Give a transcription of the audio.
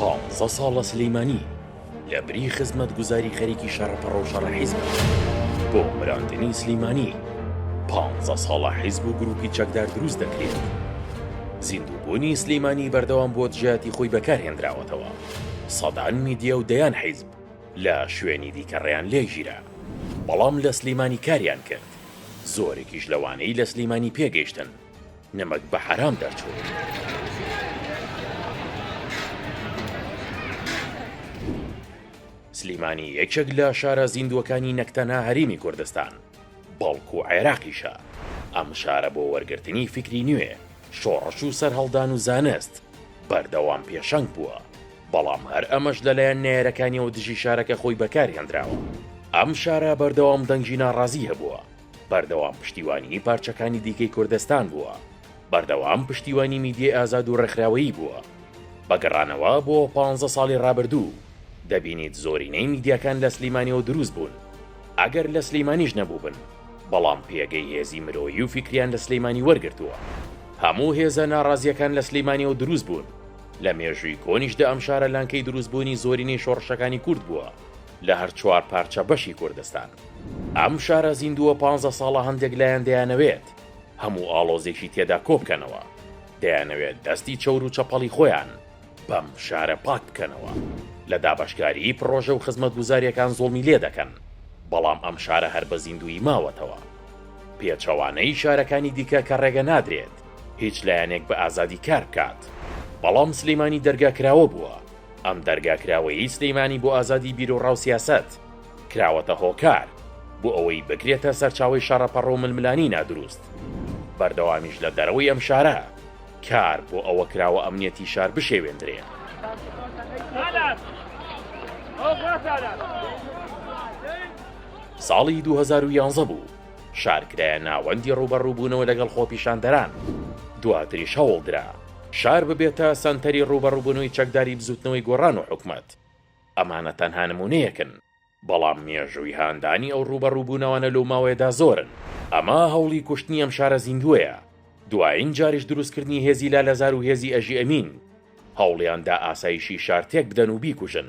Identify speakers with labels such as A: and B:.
A: پانزە ساڵە سلیمانی لە بری خزمەت گوزاری خەریکی شەڕەپەڕە و شەڕە حیزب بۆ مراندنی سلیمانی پانزە ساڵە حیزب و گروپی چەکدار دروست دەکرێت زیندووبوونی سلیمانی بەردەوام بۆ دژاتی خۆی بەکارهێنراوەتەوە سەدان میدیا و دەیان حیزب لە شوێنی دیکەڕیان لێگیرە بەڵام لە سلیمانی کاریان کرد زۆرێکیش لەوانەی لە سلیمانی پێگەیشتن نمەک بە حەرام دەرچوو. سلیمانی یەکێک لە شارە زیندووەکانی نەک تەنها هەریمی کوردستان بەڵکو عێراقیشە ئەم شارە بۆ وەرگرتنی فیکری نوێ شۆڕش و سەرهەڵدان و زانست بەردەوام پێشەنگ بووە بەڵام هەر ئەمەش لەلایەن نێرەکانیەوە دژی شارەکە خۆی بەکارهێنراوە ئەم شارە بەردەوام دەنگی ناڕازی هەبووە بەردەوام پشتیوانیی پارچەکانی دیکەی کوردستان بووە، بەردەوام پشتیوانی میدیای ئازاد و ڕێکخراوەیی بووە. بە گەڕانەوە بۆ پانزە ساڵی ڕابردوو، دەبینیت زۆرینەی میدیاکان لە سلیمانیەوە دروست بوون، ئەگەر لە سلیمانیش نەبووبن، بەڵام پێگەی هێزی مرۆیی و فیکریان لە سلیمانی وەرگرتووە. هەموو هێزە ناڕازییەکان لە سلیمانیەوە دروست بوون، لە مێژووی کۆنیشدا ئەم شارە لانکەی دروستبوونی زۆرینەی شۆڕشەکانی کورد بووە. لە هەر چوار پارچە بەشی کوردستان. ئەم شارە زیندووە پانزە ساڵە هەندێک لایەن دەیانەوێت هەموو ئاڵۆزێکی تێدا کۆبکەنەوە، دەیانەوێت دەستی چەور و چەپەڵی خۆیان بەم شارە پاک بکەنەوە، لە دابەشکاریی پڕۆژە و خزمەتگوزارییەکان زوڵمی لێ دەکەن، بەڵام ئەم شارە هەر بە زیندوویی ماوەتەوە. پێچەوانەی شارەکانی دیکە کە ڕێگە نادرێت هیچ لایەنێک بە ئازادی کار بکات، بەڵام سلێمانی دەرگا کراوە بووە ئەم دەرگا کراوەیەی سلیمانی بۆ ئازادی بیروڕاو سیاسەت، کراوەتە هۆکار، بۆ ئەوەی بکرێتە سەرچاوەی شەڕەپەڕۆو ململانی نادروست. بەردەوامیش لە دەرەوەی ئەم شارە، کار بۆ ئەوە کراوە ئەمنیەتی شار بشێوێندرێ. ساڵی دوو هەزار و یانزە بوو، شار کرایە ناوەندی ڕووبەڕووبوونەوە لەگەڵ خۆپیشاندەران، دواتریش هەوڵدرا شار ببێتە سەنتەری ڕووبەڕووبوونەوەی چەکداری بزووتنەوەی گۆڕان و حکومەت. ئەمانە تەنها نموونەیەکن، بەڵام مێژووی هاندانی ئەو ڕووبەڕووبوونەوانە لەو ماوەیەدا زۆرن. ئەمە هەوڵی کوشتنی ئەم شارە زیندووەیە، دوایین جاریش دروستکردنی هێزی لالەزار و هێزی ئەژی ئەمین هەوڵیان دا ئاسایشی شار تێکبدەن و بیکوژن.